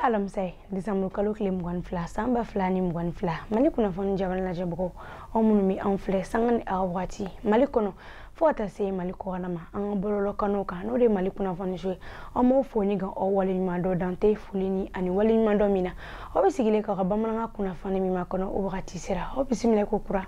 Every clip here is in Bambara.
alamisa ye desanburu kalo tile mugan ni fila san ba fila ni mugan ni fila mali kunnafoni jabarani lajɛbagaw aw minnu bɛ anw filɛ sanga ni aw wagati mali kɔnɔ fo ka taa se mali kɔkan na ma an ka bɔlɔlɔkanw kan n'o de ye mali kunnafoni so ye an b'aw fo ni ka aw waleɲuman dɔn dan tɛ foli ni ani waleɲumandɔn min na aw bɛ sigilen k'aw ka bamanankan kunnafoni min makɔnɔ o wagati sera aw bisimila ko kura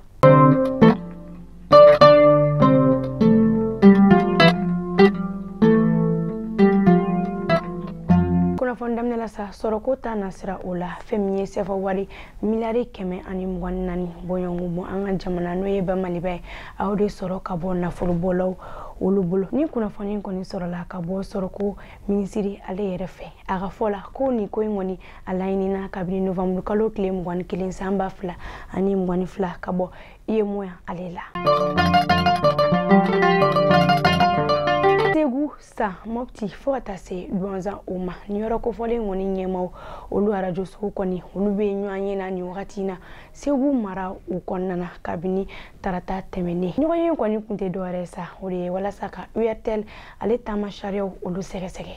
kunnafoni daminɛ la sa sɔrɔko ta nasira o la fɛn min ye sɛfa wari miliyari kɛmɛ ani mugan ni naani bɔɲɔgɔnko bɔ an ka jamana n'o ye ba maliba ye aw de sɔrɔ ka bɔ nafolobɔlaw olu bolo nin kunnafoni kɔni sɔrɔla ka bɔ sɔrɔko minisiri ale yɛrɛ fɛ a ka fɔ la ko nin ko in kɔni a laɲinina kabini novamburu kalo tile mugan ni kelen san ba fila ani mugan ni fila ka bɔ uemoa ale la segu san mɔpti fo ka taa se duwanzan o ma nin yɔrɔ kofɔlen kɔni ɲɛmaw olu arajosow kɔni olu bɛ ɲɔgɔnye na nin wagati na segu mara o kɔnɔna na kabini tarata tɛmɛnen ɲɔgɔnye kɔni kun tɛ dɔwɛrɛ sa o de ye walasa ka urtel ale taama sariyaw olu sɛgɛsɛgɛ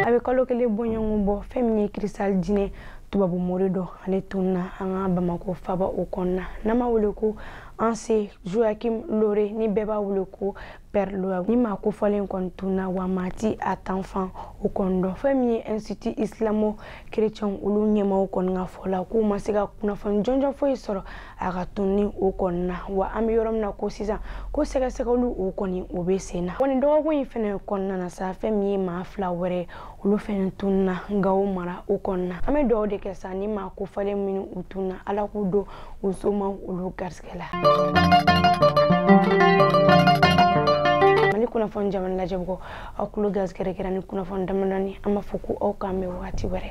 a bɛ kalo kelen bɔɲɔgɔn bɔ fɛn min ye kirisita diinɛ tubabu mori dɔ ale tunna an ka bamakɔ faaba o kɔnɔna n'an b'a wele ko hans joachim lohre ni bɛɛ b'a wele ko pɛr lohre nin maa kofɔlen kɔni tunna wa maa t'a taafan o kɔni dɔn fɛn min ye institut islamo kerecɛnw olu ɲɛmaw kɔni ka fɔ la k'u ma se ka kunnafoni jɔnjɔn foyi sɔrɔ a ka tunni o kɔni na wa an bɛ yɔrɔ min na ko sisan ko sɛgɛsɛgɛliw o kɔni o bɛ sen na wa nin dɔgɔkun in fana kɔnɔna na sa fɛn min ye maa fila wɛrɛ olu fɛnɛ tunna gawo mara o kɔni na an bɛ dugawu de kɛ sa nin maa kofɔlen minnu u tunna ala k'u don u somaw olu garisigɛ la mali kunnafoni jabarani lajɛbagaw aw kulo garisigɛ de kɛra nin kunnafoni damadamani an b'a fɔ ko aw k'an bɛn wagati wɛrɛ